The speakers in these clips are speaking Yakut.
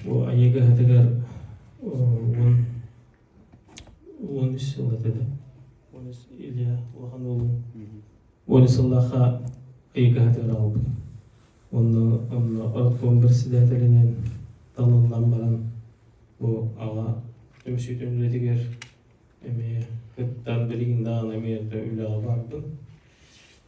Бу айыга хатыгар уон уон үс сыллата да уон үс Илья улахан уолум уон үс сыллаахха айыга хатыгар аҕалбытым. Онно онно оркуон председателинэн талыллан баран бу аҕа түмсүүтүн үлэтигэр эмиэ кыттан билигин даҕаны эмиэ да үлэҕэ бардым.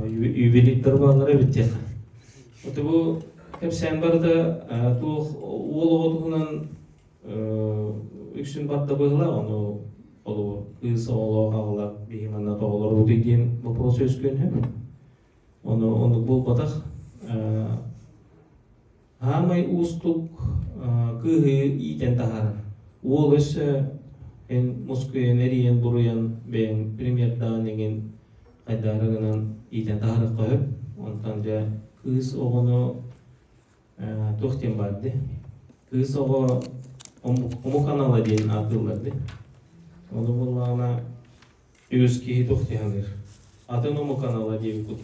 ювелир барабаннара эбит диэн вот бу кэпсээн барыта туох уол оҕо туһунан үксүн барда быһылаах ону олуо кыыс оҕолоох аҕалар биһи манна тоҕолорбутуй диэн вопрос үөскүөн сөп ону онук буолбатах Саамай уустук кыыһы иитэн таһаарар. Уол өссө эн мускуйан, эрийэн, буруйан бэйэҥ примердаҕын эҥин хайдаары гынан иитэн таһаарыахха сөп. Онтон дьэ кыыс оҕону туох диэн баар дии? Кыыс оҕо омук анала диэн ааттыыллар дии. Ону буоллаҕына Үгүс киһи туох дьаһалыыр, атын омук анала диэбиккут.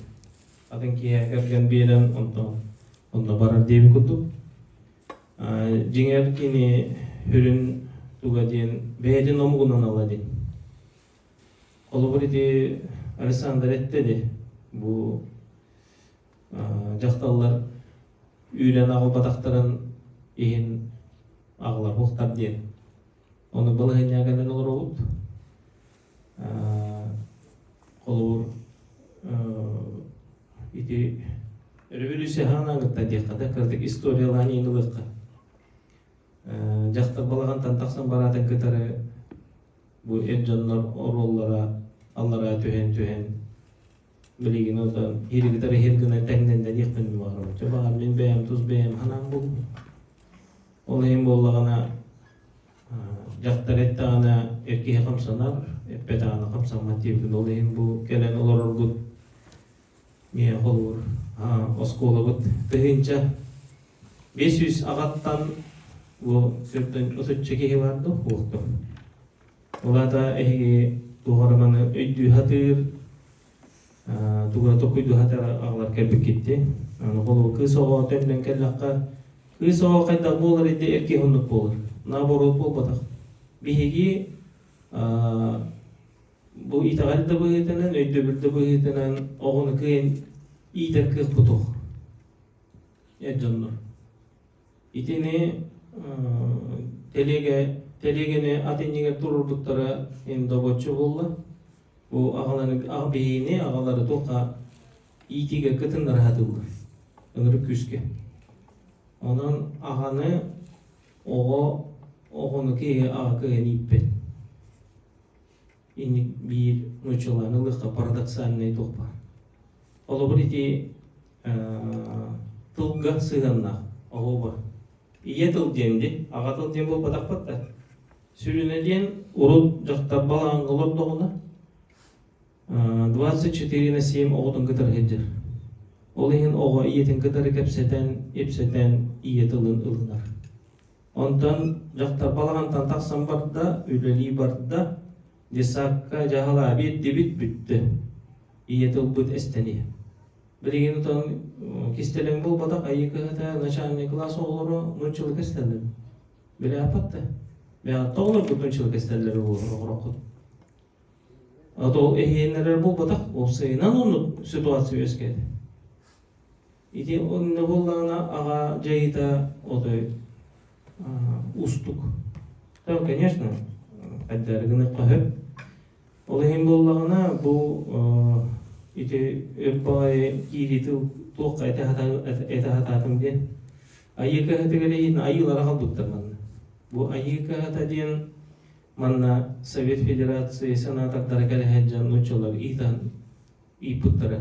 Атын киһи кэргэн биэрэн онтон онно барар диэбит курдук. Дьиҥэр кини сүрүн туга диэн бэйэтин омугунан ала дин. Холобур ити Александр этте де бу дьахталлар үүрэн аҕалбатахтарын иһин аҕалар буохтар диэн Ону балаһыанньа кэлэн олоробут. Холобур, ити революция хаанан кытта диэххэ да кырдык историялаан иин ылыахха. Дьахтар балаҕантан тахсан бараатын кытары бу эр дьоннор оруоллара аллара түһэн түһэн билигин отон иригитер иһир гына тэҥнэндэниэхпин баҕарабын чэ баҕар мин бэйэм тус бэйэм санаам булбут ол иһин буоллаҕына дьахтар эттэҕинэ эр киһи хамсанар эппэтэҕинэ хамсаммат диэбитин ол иһин бу кэлэн олорорбут миэхэ холуур оскуолабыт тыһыынча биэс сүүс аҕаттан бу сөртөн отучча киһи бар да уохтун Улата эһиги тухарыманы өйдүү-хатыыр, тугура токуйду-хатар аҕалар кэлбиккитти. Аны холобур, кыыс оҕоҕо төннөн кэллэххэ, кыыс оҕоҕо хайдах буолар инде эркиһ оннук буолар. Наоборот буолбатах. Биһиги бу итэҕэл да быһыытынан, өйдөбүл да быһыытынан оҕону кыайан иитэр кыахпытох эр дьоннор. Итини тэлиэгэ тэлиэгэни ат иннигэр турурбуттара эн добоччу буолла. Бу аҕалары аҕа биһигини аҕалары тухха иитиигэ кытын ыраһатыллар ынырык күүскэ. Онон аҕаны оҕо оҕону киһи аҕа кыһын ииппэт. инник биир нууччалаан ылыахха парадоксальный дух баар холобур ити тылга сыһыаннаах оҕобор ийэ тыл диэм дин аҕа тыл диэн буолбатахпыт да сүрүнэ диэн урут дьахтар балаҕаҥҥа олордоҕуна двадцать четыре на семь оҕотун кытары сылдьар ол иһин оҕо ийэтин кытары кэпсэтэн ипсэтэн ийэ тылын ылынар Онтон дьахтар балаҕантан тахсан барда, үлэлии барда. Десакка дьаһала биэрдибит бүттэ. Ийэтэ ылбыт эстэни. Билигин отон кистэлэҥ буолбатах айыы кыһата начальный класс оҕолоро нуччалы кэстэллэр. Биле апатта. Мега тоҕолорбут нуччалы кэстэллэр олороххут. А то эһиэннэрэр буолбатах, ол сыйынан оннук ситуация өскөтө. Ити онно буоллаҕына аҕа дьайыыта отой уустук. То, конечно, хайдары гыныхха сөп. Ол иһин буоллаҕына бу ити өр баҕайы киирии тыл туохха этэ сатаатым диэн айыы кыһатыгар иһин айыылара халбыттар манна. Бу айыы кыһата диэн манна Совет Федерации сенатордара кэлэһэ дьон нуччалар иитан ииппыттара.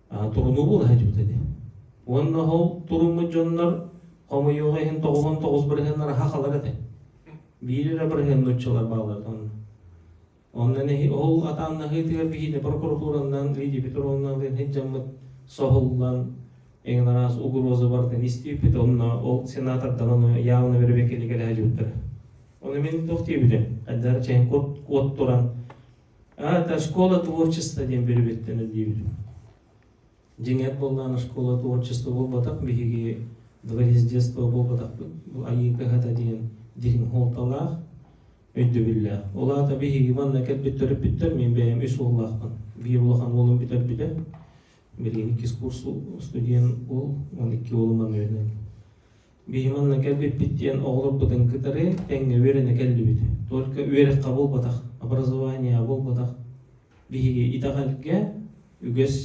турунуулуох этибит ини. Уонна ол туруммут дьоннор хомойуоҕа иһин тоҕуһун тоҕус бырыһын ыраха халар этэ. Биир эрэ бырыһын нуччалар бааллартан. Онно ол атааннаһыытыгар биһине прокуратураннан лидипит уруоннаалыын хыддьаммыт соһуллан эҥин араас угроза бардын истииппит онно ол сенатордан ону явно бэрэбиэккэлигэ лэһэлиуттара. Оны мин туох диэбитим? Хайдар чэһин кот кот туран это школа творчества диэн переведтэн диибин дьиҥэр буоллаан школа творчества буолбатах биһиги дворец детства буолбатахпыт бу айыы кыһата диэн дириҥ хуолталаах өйдөбүллээх ол аата биһиги манна кэлбит төрөппүттэр мин бэйэм үс уоллаахпын биир улахан уолум бүтэрбитэ билигин иккис курс студент уол он икки уолум манна үөрэнэн Биһи манна кэлбиппит диэн оҕолорбутун кытары тэҥҥэ үөрэнэ кэллибит. Только үөрэххэ буолбатах, образование буолбатах. Биһиги итэҕэлгэ үгэс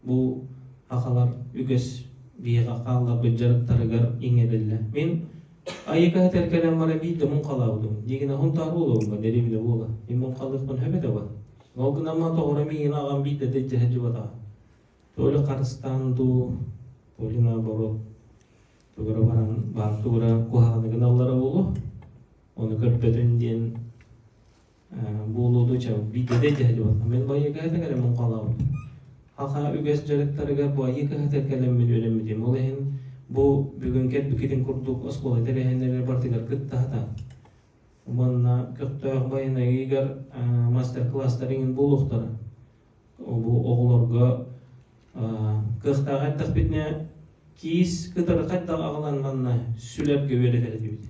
бу сахалар үгэс биһиэхэ хаалларбыт дьарыктарыгар иҥэриллэ. Мин айыкаһы тэлкэлэн бара биирдэ муҥхалаабытым. Дигина хунтаар буолуоҥҥа дэриэбинэ буола. Мин муҥхалыахпын сөбөтө ба. Ол гынан маа тоҕоро миигин аҕам биирдэ да дьэһэлдьибатаҕа. то ли харыстаан дуу, то ли наоборот тугура баран баан тугура куһааныгын аллара буолу ону көрбөтүн диэн буолууду ча бидede тәһлибат мен байыга этагара мун калабын хаха үгэс дьарыктарыгар бу айыы кыһатар кэлэммин үөрэммитим ол иһин бу бүгүнкер бикитин курдук оскуола тэрээһиннэригэр бартыгар кыттахата манна көхтөөх байанайыгар мастер класстар иҥин булуохтара Бу оҕолорго кыахтаах эрдэхпитинэ киис кытары хайдах аҕалан манна сүлэргэ үөрэтэр этибит.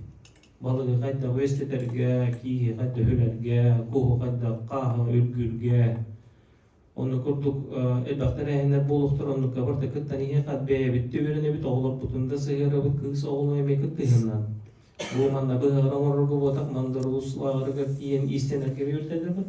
Балыгы хайдах үөстэтэргэ, киһи хайдах үлэргэ, куһу хайдах хааһы үргүүргэ. Ону курдук элбэх тэрээһиннэр буолуохтар, оннукка барыта кыттан эһиэхэ бэйэбитти үөрэнэбит, оҕолорбутун да сыһыарабыт кыыс оҕолуу эмиэ кыттыһыннан. Бу манна быһаҕар оҥорорго буотах мандар улуус лааҕырыгар тиийэн иистэнэргэ үөрэтэллэрбит.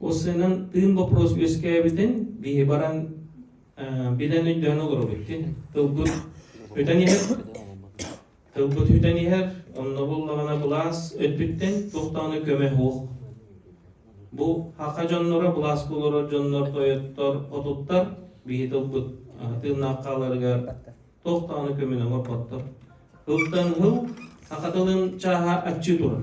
Уссуйунан тыын боппуруос үөскээбитин биһи баран билэн өйдөөн олоробут ити. Тылбыт үтэн иһэр. Тылбыт үтэн иһэр, онно буллаҕына былаас өттүттэн туох даҕаны көмө суох. Бу хака дьонноро, былаас булура дьоннор тойоттор, отуттар биһи тылбыт тыыннаах хааларыгар туох даҕаны көмөнө оҥорботтор. Тылтан тыл, хака тылын чааһа аччыы турар.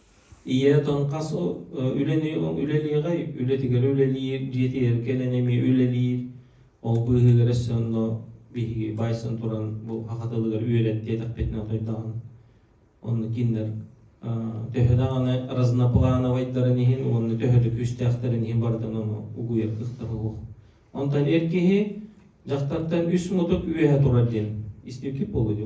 Ийэ отон хас үлэлиэҕэй, үлэтигэр үлэлиир, дьиэтигэр кэлэн эмиэ үлэлиир. Ол быыһыгар өссө онно биһиги байсан туран бу саха тылыгар үөрэт диэтэхпитинэ тойдоон онно кинилэр төһө даҕаны разноплановайдарын иһин уонна төһө да күүстээхтэрин иһин барытын ону угуйар кыахтаах суох. Онтон эр киһи дьахтартан үс мутук үөһэ турар диэн истибиккит буолуо дии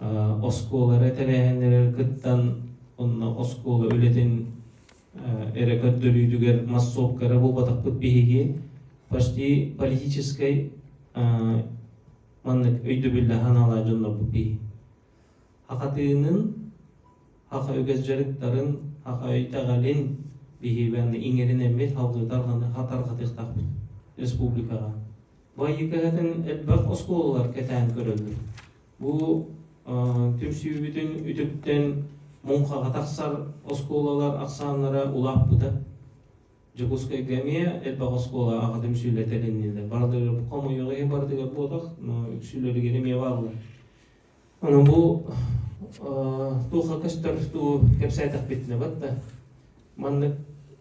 оскуолалары тэрээһиннэригэр кыттан онно оскуола үлэтин эрэ көрдөрүүтүгэр массовка эрэ буолбатахпыт биһиги почти политическай маннык өйдөбүллэ санаалаах дьоннорбут биһи хахатыынын хаха үгэс дьарыктарын хаха өйдөҕөлүн биһибэн иҥэринэммит хатарҕатыктахпыт республикаҕа байыкаһытын элбэх оскуолалар кэтээн көрөллөр Бу түмсүүбүтүн үтүктэн муҥхаҕа тахсар оскуолалар ахсааннара улааппыта. Дьокуускайга эмиэ элбэх оскуола аҕа түмсүүлэр тэриннилэр. Барыларыгар хомойуох иһин барытыгар буотах, но үксүлэригэр эмиэ бааллар. Онон бу туохха көстөр дуу кэпсээтэхпитинэ бат да маннык